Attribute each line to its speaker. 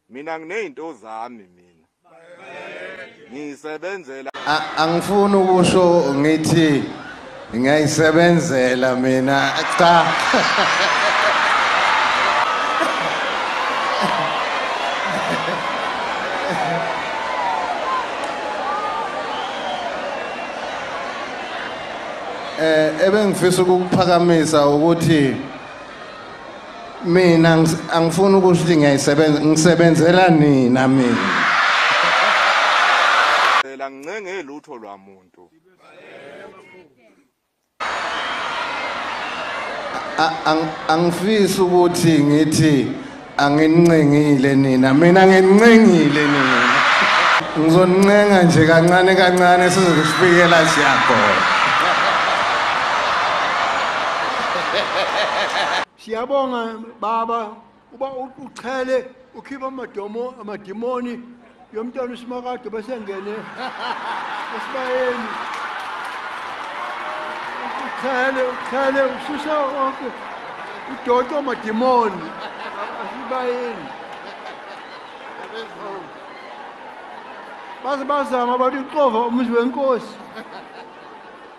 Speaker 1: Mina nginezinto zami mina. Ngisebenzela angifuni
Speaker 2: ukusho ngithi ngiyayisebenzela mina cha eh ebengifisa ukukuphakamisa ukuthi mina angifuni ukusho ukuthi ngiyayisebenza ngisebenzela nina mina
Speaker 1: phela ngincenge lutho lwamuntu
Speaker 2: angifisi ukuthi ngithi anginincengile nina mina nginincengile nina ngizoncenga nje kancane kancane sizokusifikela siyagona
Speaker 3: siyabonga baba uba uchele ukhipha amadomo amadimoni yomntwana usimakade besengene esibayeni uchele uchele ususa wonke udoto amadimoni asibayeni baze bazama bathi uxova umuzi wenkosi